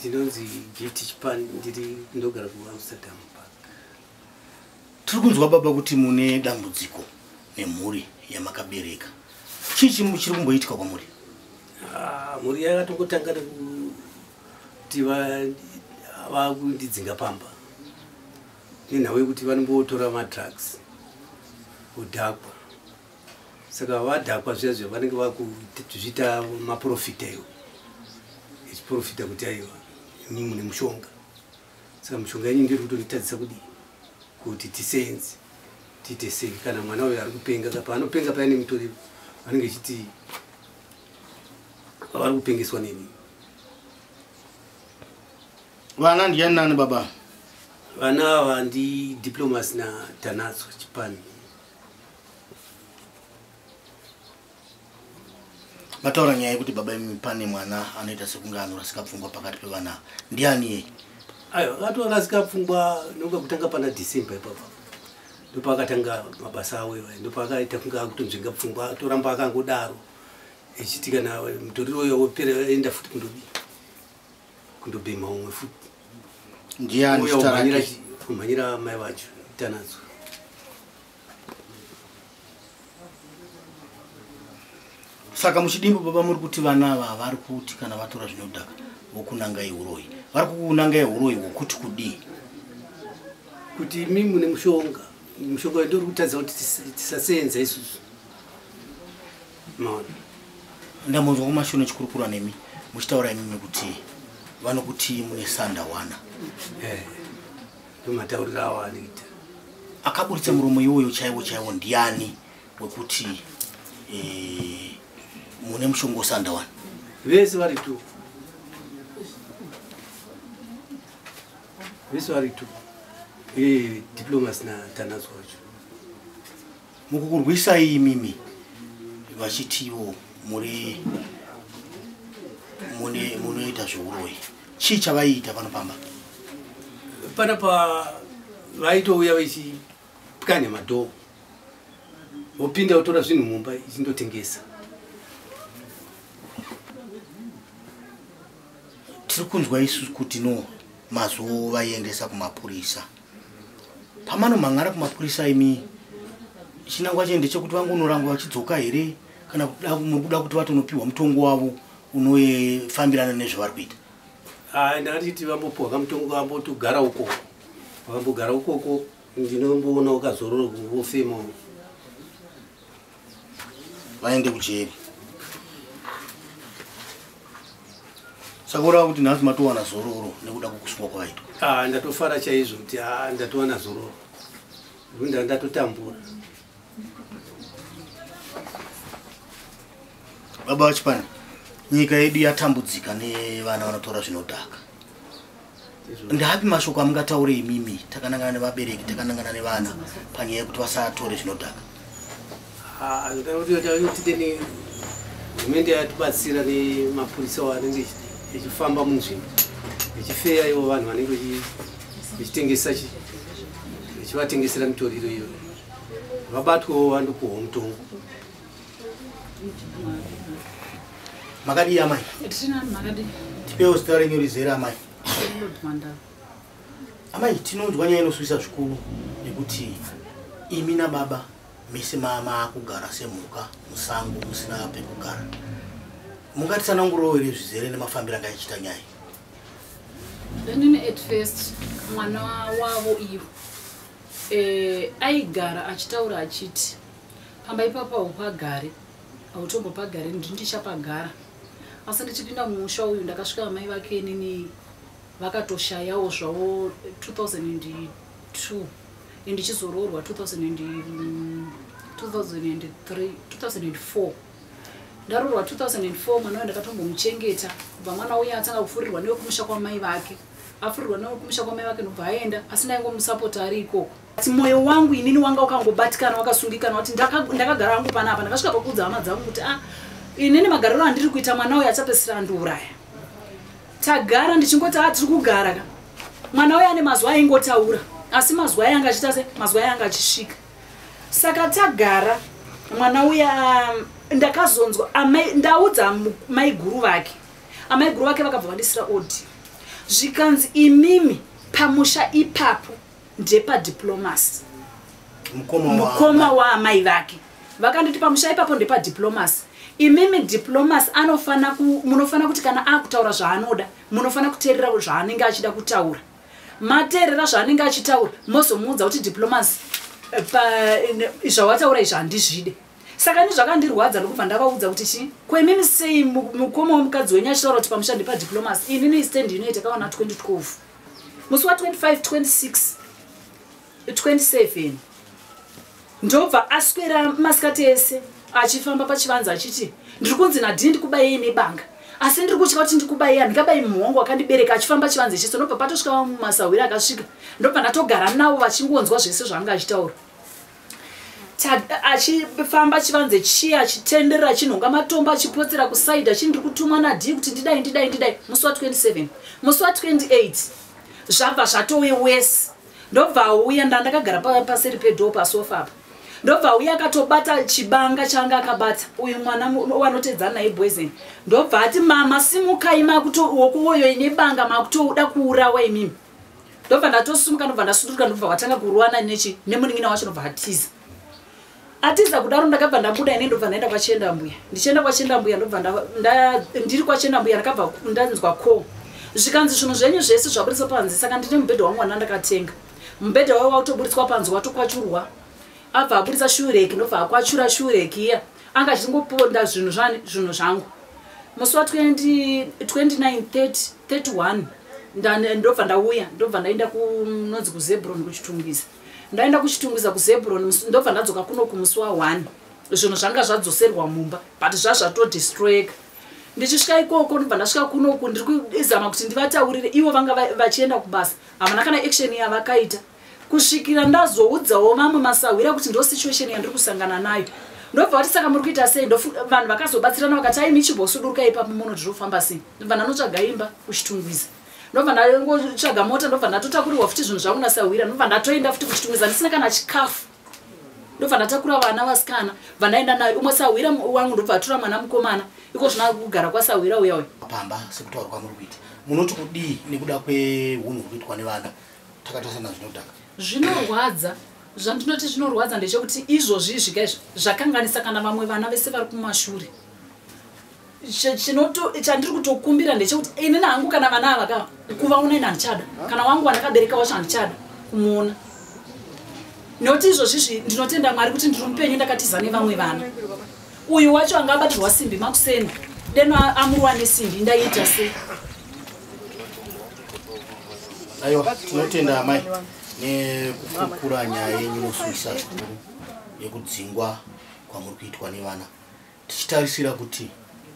ndinonzi gifti chipan ndiri ndogara kuamsterdam park tiri kunzwa baba kuti mune dambudziko nemhuri yamakabereka chii chiri kumboitika kwamuri ah, mhuri yakatongotanga nekuti vakundidzinga pamba nenhau yekuti vanombotora madrugs kudhakwa saka vadhakwa zviya zviya vanenge vakuzviita maprofita iwo echiprofita kuti aiwa imi mune mushonga saka mushonga yenyu ndiri kutonditadzisa kudii kuti tisenzi tiite sei kana mwana uyo ari kupenga ka paanopenga paya nemutori vanenge vechiti vavari kupengeswa neni vana ndiyani nani baba vana ava ndi diplomas natanatswa chipani mataura nyaya yekuti baba imi pane mwana anoita sekunge anorasika pfungwa pakati pevana ndiani yei ayo akatorasika pfungwa nokuda kutanga pana december ipapa ndopaakatanga mabasa awo iwayo ndopaakaita kunge akutonzvenga pfungwa atoramba akangodaro echiti kana mutoriro uyo wopera enda futi kundodii kundobhema umwe futi ndiani zita rake kumhanyira mai vacho tanadzo saka muchidimbo baba muri kuti vana ava havari kuti kana vatora zvinodhaka vokunangai uroyi vari kukunangai uroyi hwokuti kudii kuti imi mune mushonga mushonga ndiri kutadza kuti tisaseenza isusu maona ndamunzwa kumashoni chikurukura nemi muchitaura imimi kuti vanokuti mune sanda wana eh, ndomataurira awo anoita akaburitsa muromo iwoyo chaiwo chaiwo ndiani wekuti eh, mune mushonga wesanda wana vese vari tu vese vari tu eh, diplomas na tanazo wacho mukukurwisai imimi vachitiwo muri mune munoita zveuroyi chii chavaiita pano pamba pana pa vaitouya vachipwanya madhoo vopinda votora zvinhu mumba ichindotengesa tiri kunzwa isu kuti no mazovaiendesa kumapurisa pamanomhan'ara kumapurisa imi chinangwa chende chekuti vangonorangwa vachidzoka here kana muri kuda kuti vatonopiwa mutongo wavo unofambirana nezvavari kuita ah, ndatiti vambopiwa kamutongo vambotogara ukoko vambogara ukoko ndinomboona ukazorora kungofema vaende kujeri saka urava kuti nhasi matowana zororo nekuda kwekusungwa kwaitwa ah, ndatofara chaizvo kuti ah, ndatowana zororo nda ndatotambura baba vachipani nyika yedu yatambudzika nevana vanotora zvinodhaka ndaapi mashoko amungataure imimi takanangana nevabereki takanangana nevana panyaya yekuti vasatore zvinodhaka anoda kuti yotite ne hurumende yatibatsira nemapurisa wo anenge echifamba munzvimbo echifeya ivo vanhu vanenge vechitengesa chivatengesera mitoriro iyo vabatwewo vandopuhwa mutongo makadii amai tipewo zita renyu rizere amai amai tinonzwa nyaya inosuwisa zvikuru nekuti imi nababa mese maakugara semhuka musango musina pekugara mungatisanangurowo here zvizere nemafambiro anga ichiita nyaya inini at first mwana wavo iyo eh, aigara achitaura achiti pamba ipapa haupagare hautombopagare ndini ndichapagara asi ndichipinda mumusha uyu ndakasvika amai vake inini vakatoshayawo zvavo 2002 and ndichizoroorwa 2003 2004 ndarorwa 2004 mwana uyo ndakatombomuchengeta kubva mwana uya atanga kufurirwa newekumusha kwamai vake afurirwa newekumusha kwamai vake ndobva aenda asi ndaingomusapota ari ikoko asi mwoyo wangu inini wanga wakangobatikana wakasungikana kuti ndakagara hangu panapa ndakasvika pakuudza hama dzangu kuti a ah, inini magariro andiri kuita mwana uyo achapesira andiuraya tagara ndichingoti a ah, tiri kugara ka mwana uyo ane mazuva aingotaura asi mazuva aye anga achiita se mazuva aye anga achisvika saka tagara mwana uya um, ndakazonzwa ndaudza maiguru vake amaiguru vake vakabva vandisira odi zvikanzi imimi pamusha ipapo ndepa diplomacy mukoma waamai vake vakanditi pamusha ipapo ndepa diplomacy imimi diplomacy anofana munofanira kuti kana akutaura zvaanoda munofanira kuteerera zvaanenge achida kutaura mateerera zvaanenge achitaura mozomuudza kuti diplomacy eh, eh, zvawataura izvi handizvide saka ni zvakandirwadza ndokubva ndavaudza kuti chii ko imimi sei mukoma wemukadzi wenyu achitaura kuti pamusha ndepa diplomacy inini istendi inoita kawana 2012 musi wa 25 26 27 ndobva aswera masikati ese achifamba pachivanza achiti ndiri kunzi nadhii ndikubayei nebanga asi ndiri kutya kuti ndikubayi handikabayi mumhu wangu wakandibereka achifamba chivanzi ichiso ndobva patosvika vamwe masahwira akasvika ndobva ndatogara navo vachingonzwa zvese zvaanga achitaura achifamba chivanze chiya achitenderera achinhonga matombo achipotsera kusaidi achii ndiri kutumwa nadii kuti ndidai ndidai ndidai musi wa 27 musi wa 28 zvabva zvatove wese ndobva auya ndandakagara paseri pedhoo pasofa apa ndobva auya akatobata chibanga chaanga akabata uyu mwana wanoteedzana naye boysen ndobva ati mama simukai makutowokuwoyoi nebanga makutouda kuurawa imimi ndobva ndatosumuka ndobva ndasunduruka ndobva vatanga kuruwana nechi nemunin'ina wacho ndobva atiza atiza kudaro ndakabva ndabuda ine ndobva ndaenda kwachenda mbuya ndichienda kwachenda mbuya ndobva ndiri kwachenda mbuya ndakabva ndanzwa ko zvikanzi zvinhu zvenyu zvese zvaburitswa panze saka ndine mubhedha wangu wana ndakatenga mubhedha wayo wautoburitswa panze watokwachurwa abva aburitsa shureki ndobva akwachura shureki iya anga achingoponda zvinhu zvinhu zvangu musi wa 2931 ndobva ndauya ndobva ndaenda kunonzi kuzebron kuchitungwiza ndaenda kuchitungwiza kuzebron ndobva ndadzoka kuno kumusi wa one zvinhu zvanga zvadzoserwa mumba but zvazvatodestroyeka ndichisvika ikoko ndobva ndasvika kunoku ndiri kuzama kuti ndivataurire ivo vanga vachienda kubasa havana kana action yavakaita kusvikira ndazoudzawo vamwe masahwira kuti ndo situation yandiri kusangana nayo ndobva vati saka muri kuita sei vanhu vakazobatsirana vakati aimi chimbosuduruka ipapo muno zvirofamba sei ndobva ndanotsvaga imba kuchitungwiza ndobva ndangotsvaga mota ndobva ndatotakurirwa futi zvinhu zvangu nasahwira ndobva ndatoenda futi kuchitungwiza ndisina kana chikafu ndobva ndatakura vana vasikana bva ndaenda nayo umwe sahwira wangu ndobva atura mwana mukomana iko zvina kugara kwasahwira uya uya pamba sekutaura kwamuri kuita munoti kudii nekuda kweunhu huri kuitwa nevana takatarisana zvinodhaka zvinorwadza zvandinoti zvinorwadza ndechekuti izvozvi izvika izvi zvakanganisa kana vamwe vana vese vari kumashure chandiri kutokumbira ndechekuti inini hangu kana vana ava ka kuvaona ini handichada kana wangu wandakabereka wacho handichada kumuona nekuti izvozvi izvi ndinotenda mwari kuti ndiri mupenyu ndakatiza nevamwe vana uyu wacho anga abatirwa simbi makuseni deno amurwa nesimbi ndaiita sei aiwa tinotenda amai nekukukura nyaya yenyu inosuisa zvikuru yekudzingwa kwamuri kuitwa nevana tichitarisira kuti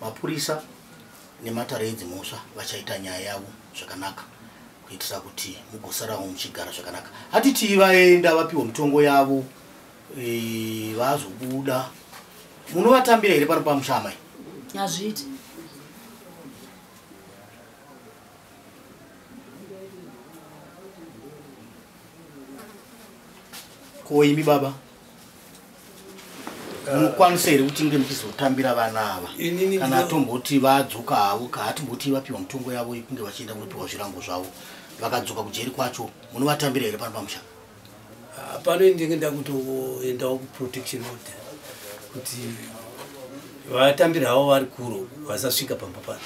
mapurisa nematare edzi mhosva vachaita nyaya yavo zvakanaka kuitira kuti mugosarawo muchigara zvakanaka hatitii vaenda vapiwa mitongo yavo vazobuda munovatambira here pano pamusha amai hazviiti ko imi baba munokwanisa here kuti nge muchizotambira vana ava kana atomboti vadzoka havo kaatimboti vapiwa mitongo yavo yekunge vachienda kunopiwa zvirango zvavo vakadzoka kujeri kwacho munovatambira here pano pamusha Ah, pano ndinge ndakutoendawo kuprotection order kuti vatambiri havo vari kuro vasasvika pamba pano